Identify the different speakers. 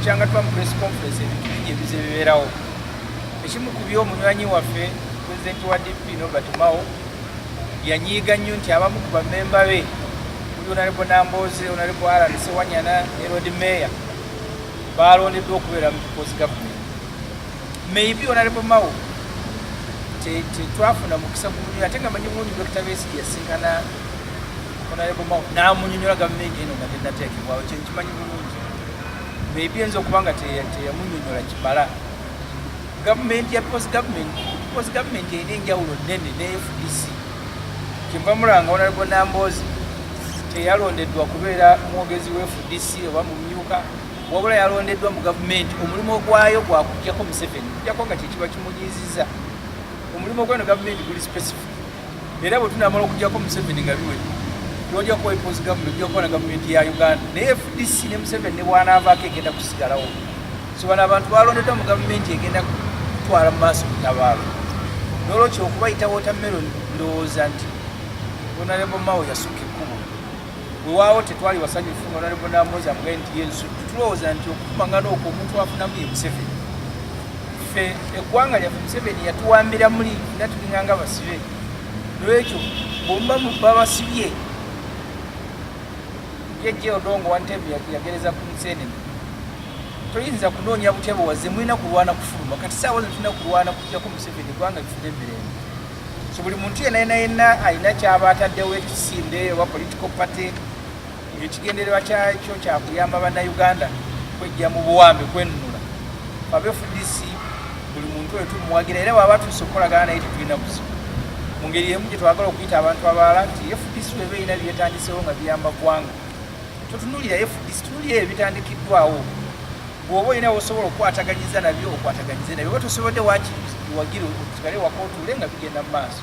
Speaker 1: kyanga tuba mu press conference ebintu bingi ebize bibeerawo ekimu ku byo omunywanyi waffe pulezidenti wa dp nobert mao yanyiiga nnyo nti abamu ku bamemba be kuli onalebo nambooze onalebo alan sewanyana ne rod mayor baalondeddwa okubeera mu kikozi gavumenti maybe onalebo mao tetwafuna mukisa gumunyola ate nga manyi bulungi dokita besi yasinkana onalebo mao namunyonyola gavumenti eno nga tenateekebwawo kyenkimanyi bulungi maybe enza okuba nga teyamunyonyola kimala gavumenti ya peoples government peoples government erina enjawulo nene ne fdc kyemba mulanga onalgo namboozi teyalondeddwa kubeera mwogezi wa fdc oba mumyuka wabula yalondeddwa mu gavumenti omulimu ogwayo gwakujjako museveni kujjako nga kyekiba kimunyiiziza omulimu ogweno gavumenti guli specific era bwe tunamala okujjako museveni nga biwedde tolja kuwa epozi gavumenti ojja kuba na gavumenti ya uganda naye fdc ne museveni ne bwanaavaako egenda kusigalawo so bano abantu balondeddwa mu gavumenti egenda kutwala mu maaso mutabaalo nolwekyo okubayita wotameroni ndowooza nti onalebo mawo yasukka ekkubo wewaawo tetwali wasanyufu honorable namoza kuba nti yensu tulowooza nti okukumangana okwo omuntu afunamu ye museveni ffe eggwanga lyaffe museveni yatuwambira muli era tulinga nga basibe lwekyo bwemuba muba basibye yejje odongo wantebe yagereza ku musenene toyinza kunoonya butya bwewazze mulina kulwana kufuluma kati saawa zino tulina kulwana kujjako museveni eggwanga lifuna emirembe so buli muntu yena yena yena alina kyaba ataddewo ekisinde oba political party ekigendererwa kyakyo kyakuyamba bannayuganda kwejja mu buwambe kwenunula babe fdc buli muntu oyo tumuwagira era bwaba tuuse okukolagana naye tetulina buzibu mu ngeri emu gye twagala okuyita abantu abalala nti fdc weba erina byetandisewo nga biyamba ggwanga totunulira fdc tunulira ebyo bitandikiddwawo bwoba olina wosobola okukwataganyiza nabyo okwataganyize nabyo oba tosobodde wakiwagire osigale wakotuule nga bigenda mu maaso